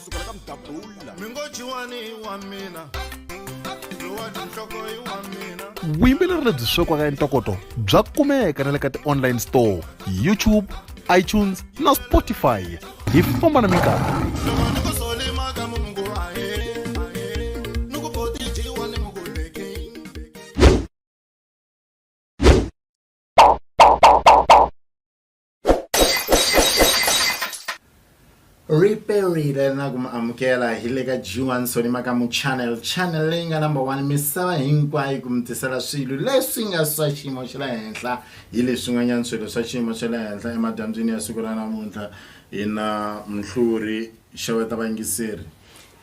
kusukela ka mdabula mi ngo jiwani i wa mina lowa tinhloko i wa mina vuyimbeleri lebyi swekiwaka entokoto bya kumeka na le ka ti-online store youtube itunes na spotify hi famba na minkarhi loko ni ku solimaka mu ngo ahe ahe ni ku boti jiwani mu ku leke ri perile na ku mi amukela hi le ka g1 sonimaka mu channel channel leyi nga number one misava hinkwayo ku mi tisela swilo leswi nga swa xiyimo xa le henhla hi leswin'wanyana swilo swa xiyimo xa le henhla emadyambyini ya siku ra namuntlha hi na mhluri xeweta vangiseri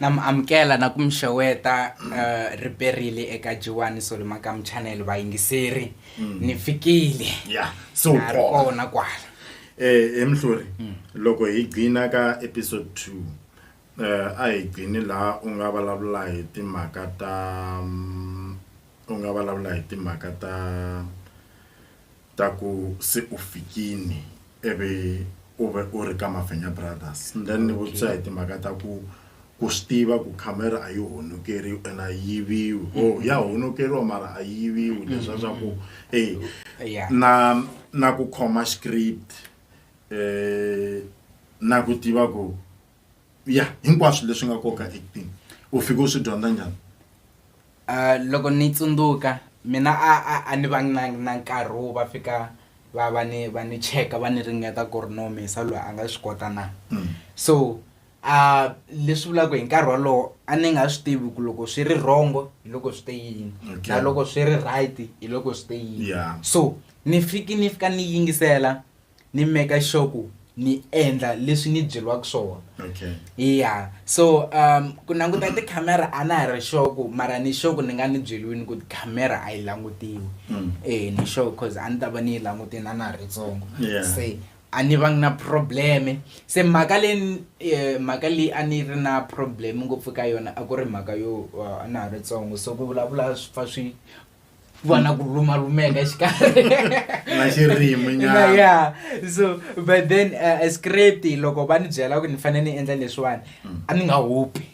Na mi amukela na ku mi xeweta uh, ri perile eka Jiwani Solomakam channel vayingiseri mm. ni fikile yeah. so na ri kona kwala eh he mhluri mm. loko hi gcina ka episode 2 uh, eh, a hi gcini laha u nga vulavula hi timhaka ta mm, u nga vulavula hi timhaka ta Ta ku se u fikini ivi u ve u ri ka Mafenya Brothers then ni vutisa hi timhaka ta ku ku swi tiva ku camera a yi honokeriwi and a yi yiviwi or ya honokeriwa mara a yi yiviwi leswiya swa ku e na na ku khoma script na ku tiva ku. ya hinkwaswo leswi nga koka acting u fike u swi dyondza njhani uh, loko ni tsundzuka mina a a a ni vangi na na nkarhi wo va fika va va ni va ni cheka va ni ringeta ku ri no misa loyi a nga swi kota na mm. so a uh, leswi vulaka hi nkarhi wolowo a ni nga swi tivi ku loko swi ri wrongo hi loko swi te yini okay. na loko swi ri right hi loko swi te yini yeah. so ni fiki ni fika ni yingisela ni make sure ku ni endla leswi ni byeriwaka swona okay yeah so um ku languta tikhamera a na ha ri sure ku mara ni sure ku ni nga ni byeliwini ku tikhamera a yi langutiwi Mm. eh ni sure cause a ni ta va ni yi langutini a na ha ri ntsongo Yeah. se a ni vangi na probleme se mhaka leyi eh, mhaka leyi a ni ri na probleme ngopfu ka yona a ku ri mhaka yo uh, a na ha ri ntsongo so ku vulavula swi pfa swi ku va na ku lumalumeka exikarhi na xirimi nyana ya so but then uh, eh, script loko va ni byela ku ni fanele ni endla leswiwani mm. a ni nga hupi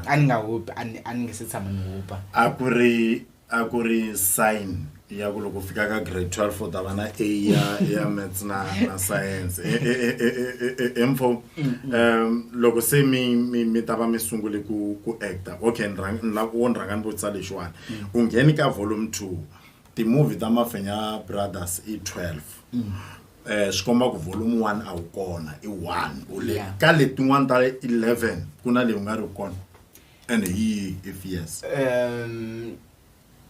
a ni nga hupi a ni nge se tshama ni hupa a ku ri a ku ri sign ya ku loko fika ka grade 12 u ta va na a ya ya maths na na science info um loko se mi mi mi ta va mi sungule ku ku actor okay ni rhanga ni lava ku ni rhanga ni vutisa lexiwani u ngheni ka volume 2 timovhi ta mafenya brothers i 12 mm. eh swi komba ku volume 1 a wu kona i 1 u le ka letin'wana ta 11 ku na leyi u nga ri kona and hi if yes um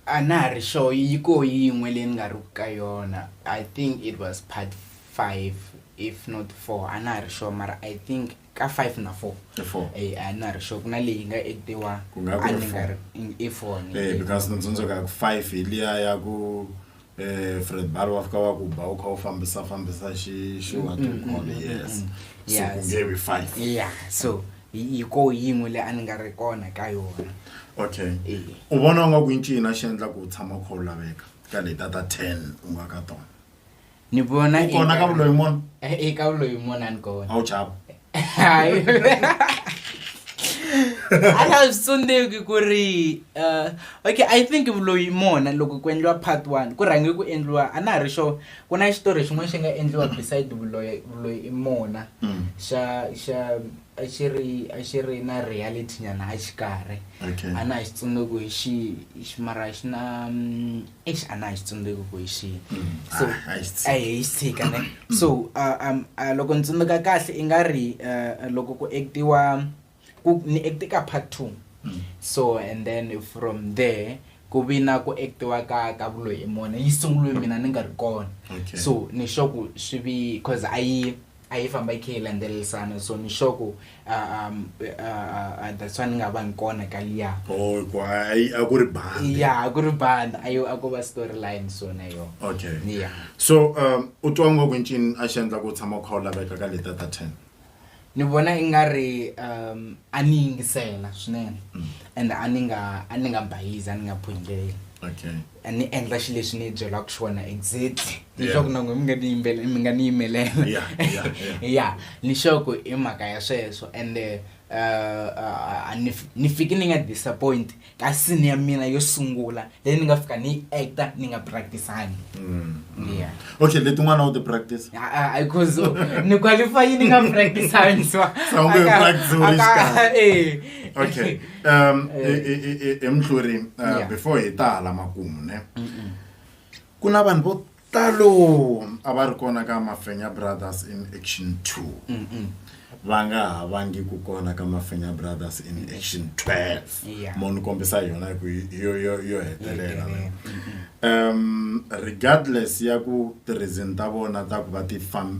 a na ha ri sure yi ko yin'we leyi ni nga ri ku ka yona i think it was part 5 if not 4 a na ha ri sure mara i think ka five na four e four e a ni na ri sure ku na leyi nga actiwa Ku nga ku a ri ni nga four. ri i four ni Eh, because ni tsundzuka ya ku five hi liya ya ku eh fred balo wa fika wa ku ba u kha u fambisa fambisa xi xi wa to call yes so Yeah, ku nge vi five ya so hi hi ko yin'we leyi a ni nga ri kona ka yona okay Eh. u vona u nga ku i ncini a xi endla ku u tshama u kha u laveka ka leta ta ten u nga ka tona ni vona u kona ka vuloyi mona e eh, eh, ka vuloyi mona ni kona a wu chava hayi a nga swi tsundzuki ku ri uh, okay i think vuloyi mona loko ku endliwa part one ku rhange ku endliwa a na ha ri xo ku na xitori xin'wana xi nga endliwa beside vuloyi vuloyi i mona mm. xa xa a xi ri a xi ri na reality nyana a xikarhi a na ha xi tsundzuki hi xi mara xi na mm, eish a na hi xitsundzuki ku hi xihi so Ah, a hi xi tshiki. a hi xi tshika ne so uh, um, uh, loko ni tsundzuka kahle i nga ri uh, loko ku actiwa ku ni acte ka part two Mm. so and then from there ku vi na ku actiwa ka ka vuloyi emona yi sunguliwe mina ni nga ri kona Okay. so ni sure ku swi vi cause a yi a yi famba yi khe yi landzelerisana so ni sure ku ah, um, ah, ah, ah, that's why ni nga vangi kona ka liya oh ku a yi- a ku ri bandi ya a ku ri banda a yo a ko va story line so na yo okay ya so um u twa ngo ku ncini a xi endla ku u tshama u kha u laveka ka leta ta ten ni vona i nga ri um a ni yingisela swinene and a ni nga a ni nga bayizi a ni nga phungeleli okay a ni endla xi lexi ni byelaka xona exactly leswaku na n'we mi nga ni yimbele mi nga ni yimelela ya ni xoko i mhaka ya sweswo and eh, eh, a ni ni fiki ni nga disappoint ka sini ya mina yo sungula leyi ni nga fika ni yi acta ni nga practisangi mm-hmm. ya okay letin'wana u ti practice because ni qualify ni nga practisangi so okay um emhluri uh, before hi ta hala makumu ne ku na vanhu vo talo a va ri kona ka mafenya brothers in action two va nga ha vangi ku kona ka mafenya brothers in action twelve mo ni kombisa yona hi ku yo hetelela Um regardless ya ku tirhizini ta vona ta ku va ti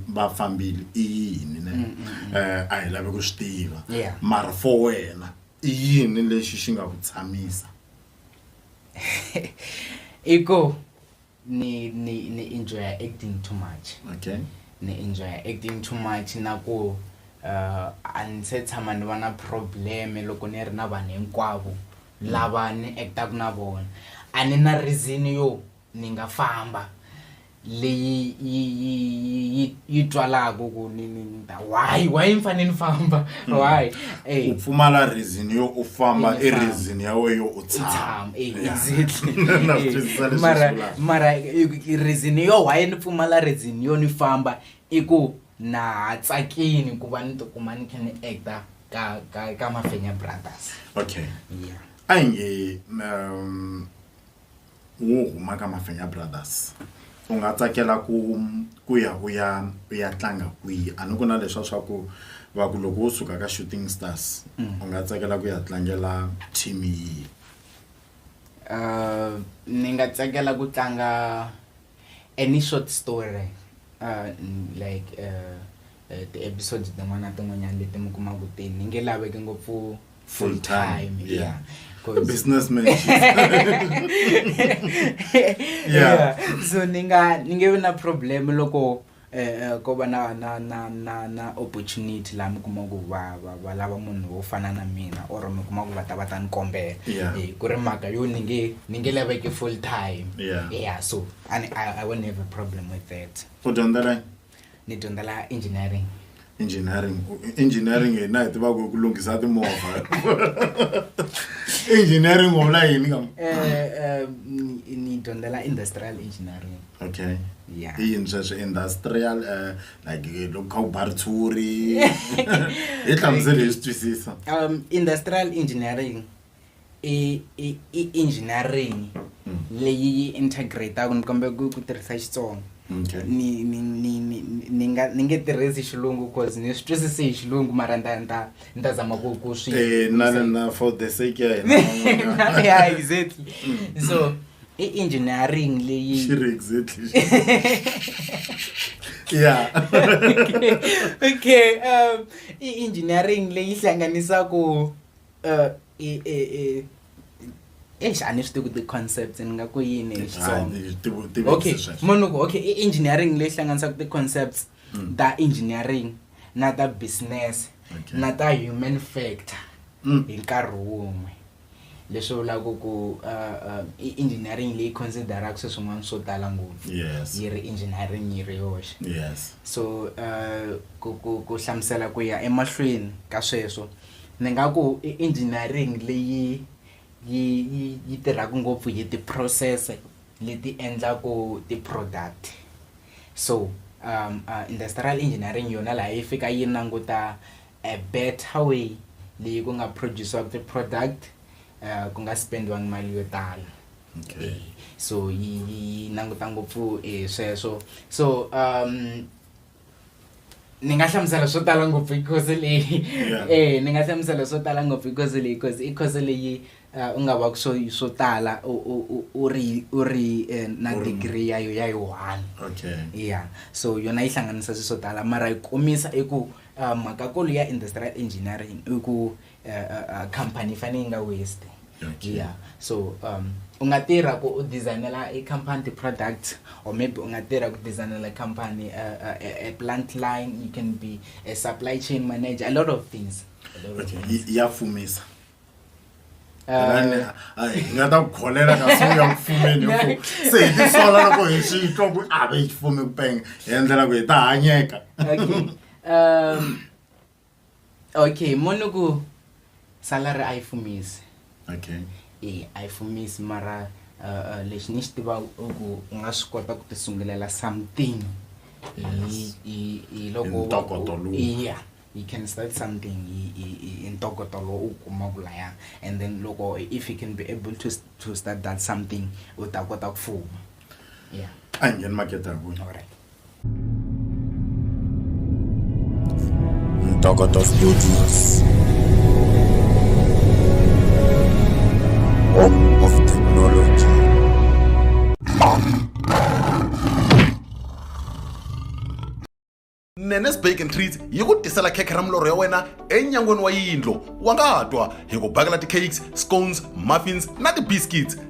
va fambile i yini ne mm, mm, mm. eh, a hi lavi ku swi tiva mara for wena i yini lexi xi nga ku tshamisa i ku ni ni ni enjoya acting too much okay ni enjoya acting too much na ku uh, a ni se tshama ni va na probleme loko ni ri na vanhu hinkwavo Lava ni actaku na vona a ni na reason yo ni nga famba leyi yi yi yi yi twalaku ku ni ni ni ta why why ni fane ni famba why e. Ku pfumala reason yo u famba i reason ya wehe yo u tshama e exactly na swi twisisa leswi mara swi vulaka. mara reason yo why ni pfumala reason yo ni famba i ku na ha tsakini ku va ni tikuma ni kha ni actor ka ka ka mafenya brothers okay yeah a hi nge um wo huma ka mafenya brothers u nga tsakela ku ku ya u ya u ya tlanga kwihi a ni ku na leswa swa ku va ku loko wo suka ka shooting stars mm. u nga tsakela ku ya tlangela team yihi uh, ni nga tsakela ku tlanga Any short story uh, like uh, uh, ti-episodes tin'wana na tin'wanyana leti mi kumaka ti ni nge laveki ngopfu full time yeah businessman yeah so ni nga ni nge vi na problem loko ko va na na na na na opportunity laha mi kuma ku va va va lava munhu wo fana na mina or mi kuma ku va ta va ta ni kombela Yeah. Eh, ku ri mhaka yo ni nge ni nge laveke full time Yeah. yeah so and I, i won't have a problem with that u dyondzela ni dyondzela engineering engineering engineering hi na hi tivaka ku lunghisa timovha engineering u vula yini kam eh, eh, ni dyondzela industrial engineering okay yeah. i yini sweswo industrial uh, like loko kha u ba ritshuri hi hlamusele hi swi twisisa um industrial engineering i i i engineering leyi yi integrate-aku ni kombela ku ku tirhisa xitsonga Okay. ni ni ni ni ni nga ni nge tirhisi xilungu cause ni swi twisisi hi xilungu mara nda nda nda zama ku ku swi Eh, na na na for the sake ya hina van'wanyana. yeah exactly so i engineering leyi Xi ri exactly yeah okay um i engineering leyi hlanganisaku exi a ni swi tivi ku ti-concepts ni nga ku yini hi xitsongaokay mo ni ku okay i engineering leyi hlanganisaka ti-concepts mm. ta engineering na ta business na ta human factor mm. hi nkarhi wun'we leswi vulaka ku uh, uh, i engineering leyi consideraka swi swin'wana swo tala ngopfu yi ri engineering yi ri yoxe so uh, ku hlamusela ku ya emahlweni ka sweswo ni nga ku i engineering leyi yi yi yi tirhaka ngopfu hi ti process leti endlaku ti product so industrial engineering yona laha yi fika yi languta a better way leyi ku nga produce-iwaka ti product ku nga spendiwangi mali yo tala okay so yi yi languta ngopfu hi sweswo so . ni nga hlamusela swo tala ngopfu hi khozi leyi e ni nga hlamusela swo tala ngopfu hi khozi leyi khozi i khozi leyi eh, u nga va swo swo tala u ri u ri eh, na degree ya yo ya yi one ya so yona yi hlanganisa swi swo tala mara yi komisa i ku eh, mhakakulu ya industrial engineering i ku uh, company yi fanele yi nga waste okay. yeah so um u nga tirha ku u designela i company ti-product or maybe u nga tirha ku designela company uh, uh, a plant line you can be a supply chain manager a lot of things ya fumisa hi nga ta ku kholela kasi u ya ku fumeni ku se hi tisola loko hi swi twa ku a ve hi xifumi ku penge hi endlela ku hi ta hanyeka um okay moni ku salary a yi fumisi okay e a yi fumisi mara uh, uh, lexi ni xi tiva ku u nga swi kota ku tisungulela something hi loko yeah you can start something hi ntokoto lowu u kumaka laya and then loko if you can be able to, to start that something u ta kota ku fuma yeah a hi ngheni makete hi vona Ntokota Studios. Home of Technology. nenes bake and treats yi ku tisela khekhe ra milorho ya wena enyangweni wa yindlo wa nga twa hi ku bakela ti-cakes scones muffins na ti-biscuits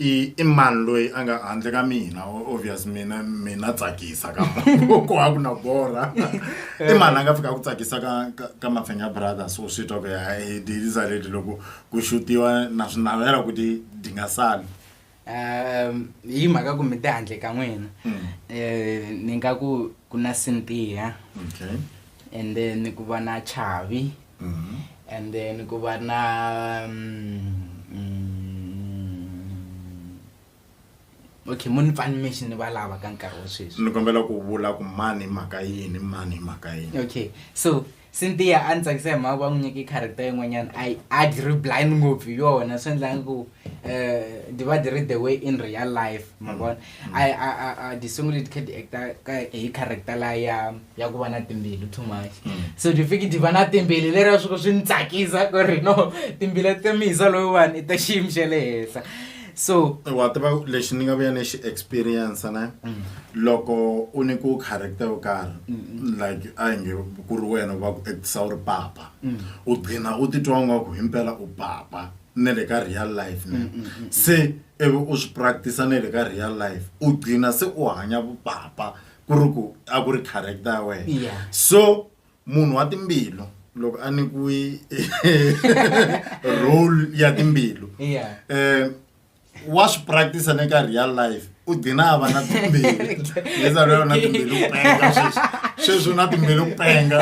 i i mani loyi a nga handle ka mina obvious mina mina tsakisa ka ko ha ku na borha i mani a nga fika ku tsakisa ka ka, ka mafenya brothers u swi twa ku ya hi diliza leti loko ku xutiwa na swi navela ku ti ti nga sali um hi mhaka ku mi te handle ka n'wina Mm. um ni nga ku ku na sintiya okay and then ku va na chavi Mhm. and then ku va na mm, okay mo ni pfani mixi ni va lava ka nkarhi wa sweswi ni kombela ku vula ku mani hi mhaka yini mani hi mhaka yini okay so cynthia a ni tsakisa hi mhaka va n'wi nyike character yin'wanyana a yi- a dri blind ngopfu hi yona swi endlanga ku eh, di ba di re the way in real life ma mm. vona mm. di sungule di kha di acta hi character la ya ya ku va na timbilu too much mm. so di fiki di va na timbilu leri ya swi swi ni tsakisa ku ri no timbila ta misa loyiwani i ta xiyimo xa le henhla so wa tiva lexi ni nga vuya ni xi experience ne mm. loko u ni ku character yo karhi like a hi nge ku ri wena va ku actisa u ri papa mm. u gcina u titwa ngaku himpela u papa na le ka real life ne se e be o swi practice na le ka real life u gcina se u hanya vupapa ku ri ku a ku ri character ya wena so munhu wa timbilu loko a nyikiwe role ya timbilu um wa swi practice ni ka real life u dina a va na timbeli leswaku yona na timbeli ku penga sweswi sweswi na timbeli ku penga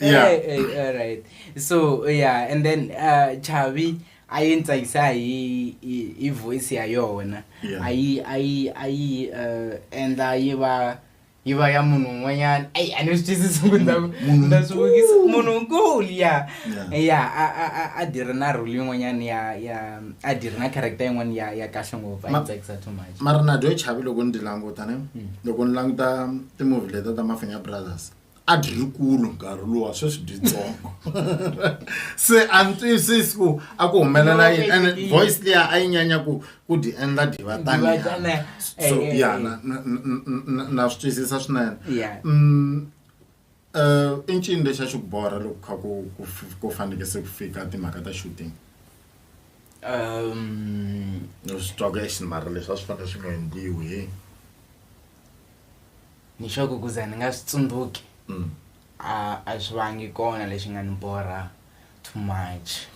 yeah hey, hey, all right so yeah and then uh, chavi a yi ntsakisa hi hi voice ya yona a yi a yi a yi uh, endla yi va yi va ya munhu un'wanyana eyi a ni swi twisisi ku nda swi vukisa munhu nkulu ya ya a dyi ri na role yin'wanyana ya ya a dyi ri na character yin'wana ya ya kahle ngopfu a tsakisa too much mara na dyo chavi loko ni ti languta ne hmm. loko ni languta timovhi leta ta mafenya brothers a dyi ri kulu nkarhi luwa sweswi byitsongo se a ni twisisi ku a ku humelela yini and voice liya a yi nyanya ku ku dyi endla dyi va taniana so ya na na na na swi twisisa swinene um i ncini lexi a xi ku borha loko kha ku ku ku faneke se ku fika timhaka ta shooting um ni swi twa ku exi mara leswi a swi fanele swi nga endliwi he ni xo ku ku za ni nga swi tsundzuki a a swi vangi kona lexi nga ni borha. too much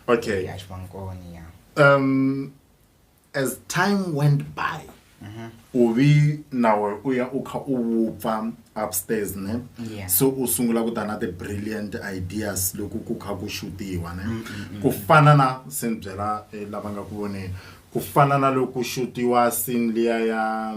okay yeah, yeah. um as time went by mm-hmm. u vi nawe u ya u kha u vupfa upstairs ne yeah. so u sungula ku ta na ti-brilliant ideas loko ku kha ku shutiwa ne mm, mm, mm. ku fana na se ni byela eh, lava nga ku voneni ku fana na loko ku shutiwa sin liya ya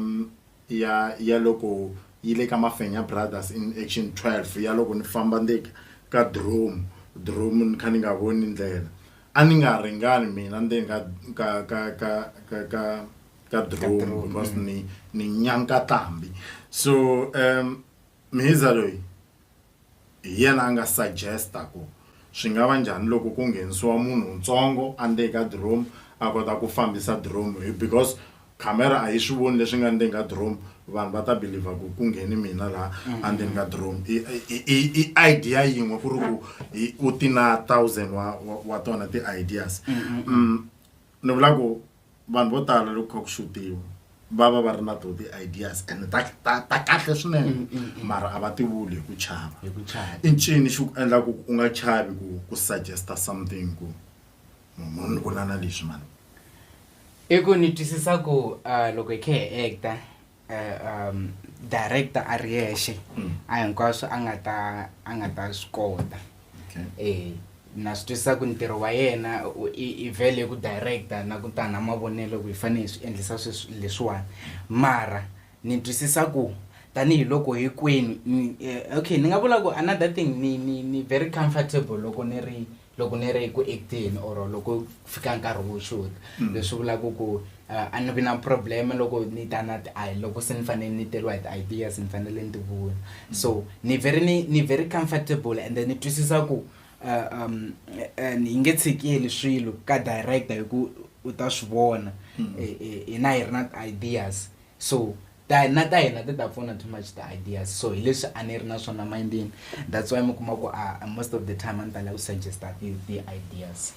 ya ya loko yi le ka Mafenya Brothers in Action 12 ya loko ni famba ni te ka Dromu Dromu ni kha ni nga voni ndlela a ni nga ringani mina ndzeni ka ka ka ka ka ka ka Dromu because ni ni nyanka tlambi so um Mhiza loyi Hi yena a nga suggest-a ku swi nga va njhani loko ku nghenisiwa munhu ntsongo a ndzeni ka diromu a kota ku fambisa diromu hi because camera a yi swi voni leswi nga ndzeni ka diromu vanhu va ta believer ku ku ngheni mina laha a ndzeni ka diromu i i- i i idea yin'we ku ri ku i- u ti na thousand wa wa- wa tona ti-ideas Mm, Ni vula ku vanhu vo tala loko kha ku xutiwa va va va ri na to ti-ideas and ta ta ta kahle swinene mm, mm, mm. mara a va ti vuli hi ku chava i ncini xi ku endla ku u nga chavi ku ku suggesta something ku munhu ni vula na leswi mani i ku ni twisisa ku uh, loko hi khe hi acta eh, um director a ri yexe Mm. a hinkwaswo a nga ta a nga ta swi kota Okay. eh na swi twisisa ku ntirho wa yena u- i i vele ku director na ku ta na mavonelo ku hi fanele hi swi endlisa sweswi leswiwani mara ni twisisa ku tanihiloko hinkwenu ni- eh, okay ni nga vula ku another thing ni ni ni very comfortable loko ni ri loko ni ri ku acting or loko ku fika nkarhi wo shoot mm. leswi vulaka ku uh, a ni vi na problem loko ni ta na ti loko se ni fanele ni teriwa hi ti-ideas ni fanele ni ti vula mm. so ni very ni ni very comfortable and then ni twisisa ku uh, um uh, ni nge tshikeli swilo ka director hi ku u ta swi vona mm. hina hi ri na ti-ideas so ta na ta hina ti ta pfuna too much the ideas so hi leswi a ni ri na swona mindini that's why mi kuma ku a ah, most of the time a ni tala ku suggesta ti-ideas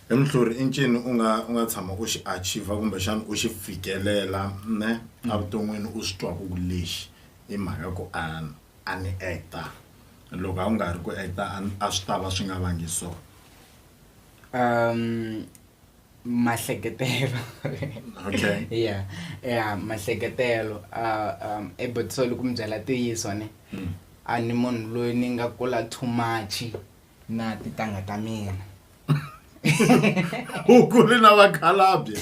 hi muhluri i ncini u nga u nga tshama u xi achieva kumbexana u xi fikelela ne mm. evuton'wini u swi twaku ku lexi i mhaka ku a a ni acta loko a ku nga ri ku acta a swi ta va swi nga vangi so um mahleketelo okay yeah yeah mahleketelo uh, um ebutiso loko mi byela ntiyiso ne mm. a ni munhu loyi ni nga kula too much na titanga ta mina u kule na vakhalabye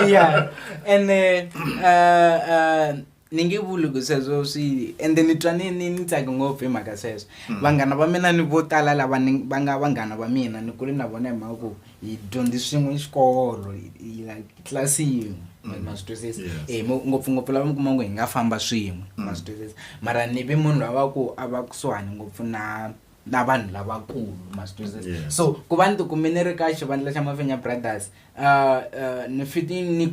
yeah ene uh, uh, ni nge vuli ku sweswo swi ende ni twa ni ni ni tsake ngopfu hi mhaka sweswo hmm. vanghana va mina ni vo tala lava ni va nga vanghana va mina ni kule na vona hi mhaka ku hi dyondzi swin'we xikolo like tlasi yin'we hmm. ma swi twisisa e eh, ngopfungopfu lava mi kuma ku hi nga famba swin'we ma hmm. swi twisisa mara ni vi munhu lava ku a va kusuhani ngopfu na na vanhu lavakulu ma swi twisisa yeah. so ku va ni tikumi ni ri ka xivandla xa mafenya brothers uh, uh, ni fiti ni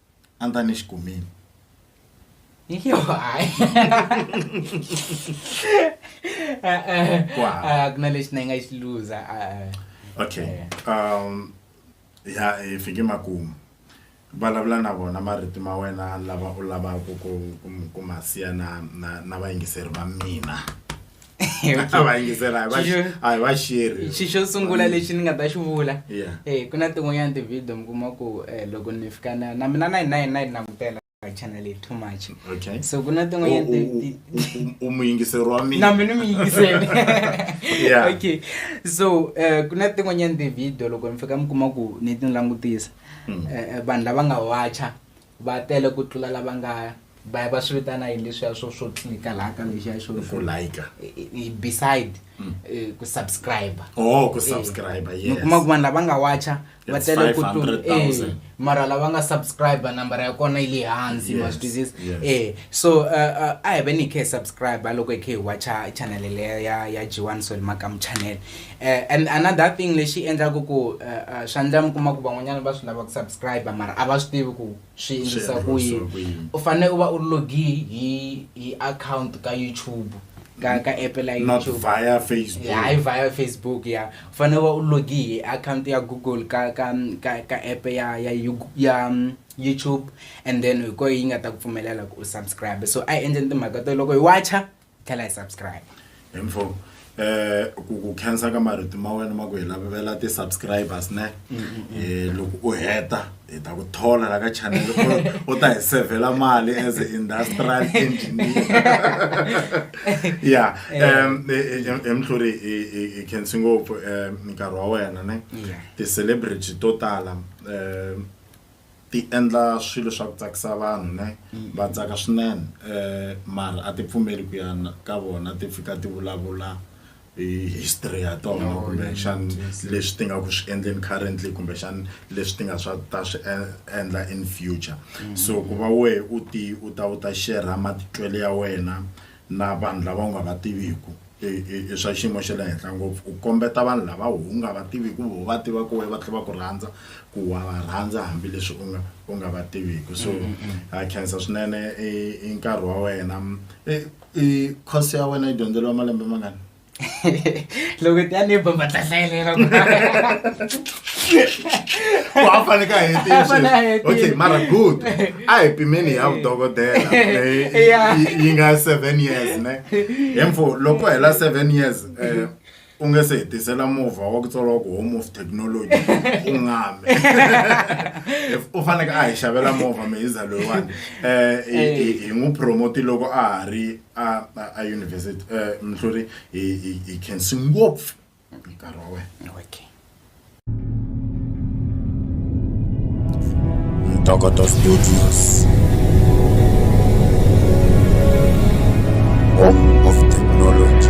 a ni ta ni xi kumile yo hayi ku na lexi na yi nga xi luza okay eh. um ya hi fike makumu vulavula na vona marito ma wena lava u lavaka ku ku ma siya na na na vayingiseri va mina a va yingisela a va xi- Xixo- a hi va xiri xi xo sungula lexi ni nga ta xi vula Yeah. eh ku na tin'wanyana ti-video mi kuma ku eh, loko ni fika na na mina na na na yi langutela channel leyi too much okay so ku na U- tin'wanyana u- ti- ti- u- u- u muyingiseri wa mina na mina mi yingisele Yeah. okay so eh, ku na tin'wanyana ti-video loko ni fika mi kuma ku ni ti langutisa Mm. Eh, eh, vanhu lava nga wacha Va tele ku tlula lava nga va va swi vitana yini leswiya swo swo tlika laha ka lexiya xo ku like beside mm. eh, ku subscribe oh ku eh, subscribe yes kuma ku vanhu lava nga watcha va tele ku tlula eh mara lava nga subscribe number ya kona yi le hansi ma swi eh so eh, a hi ve ni khe subscribe loko hi khe hi watcha channel leya ya ya G1 Solima Kam channel eh, and another thing lexi endlaku ku uh, swa ndla mi kuma ku van'wanyana va swi lava ku subscribe mara a va swi tivi ku swi endlisa ku yini u fanele u va u logi hi hi account ka youtube ka ka app la youtube via facebook ya hi via facebook ya u fanele u va u logi hi account ya google ka ka ka, ka app ya ya ya um, youtube and then hi koho yi nga ta ku pfumelela ku u subscribe so a yi endleni timhaka to loko hi wacha tlhela hi subscribe info eh ku ku khensa ka marito ma wena ma ku hi lavela ti-subscribers ne um loko u heta hi ta ku thola la ka channel u ta hi sevhela mali as a industrial engineer ya um emhluri hi khensi ngopfu um nkarhi wa wena ne ti-celebrity to tala um ti endla swilo swa ku tsakisa vanhu ne va tsaka swinene mara a ti pfumeli ku ya ka vona ti fika ti vulavula hi history ya tona kumbexani leswi ti nga ku swi endleni currently kumbexani leswi ti nga swa ta swi endla in future so ku va wehe u ti u ta u ta share-a matitwelo ya wena na vanhu lava u nga va tiviku i i i swa xiyimo xa le henhla ngopfu u kombeta vanhu lava u nga va tiviku voho va tivaku wehe va tlhe va ku rhandza ku wa va rhandza hambileswi u nga u nga va tiviku so ha khensa swinene i i nkarhi wa wena i i course ya wena yi dyondzeriwa malembe mangani. loko ti ya ni bomba ta hlayelela ku a fane ka hetisoky mara good a hi pimeni ya vudokodela yi nga seven years ne hemfo loko hela seven years um u nge se hetisela movha wa ku tswariwa ku home of technology u ngame u faneke a hi xavela movha mihiza loyiwani um hi n'wi promote loko a ha ri a a- a university eh, mhluri hi hi- hi khensi ngopfu hi nkarhi wa wena okay Ntokoto Studios. Home of technology.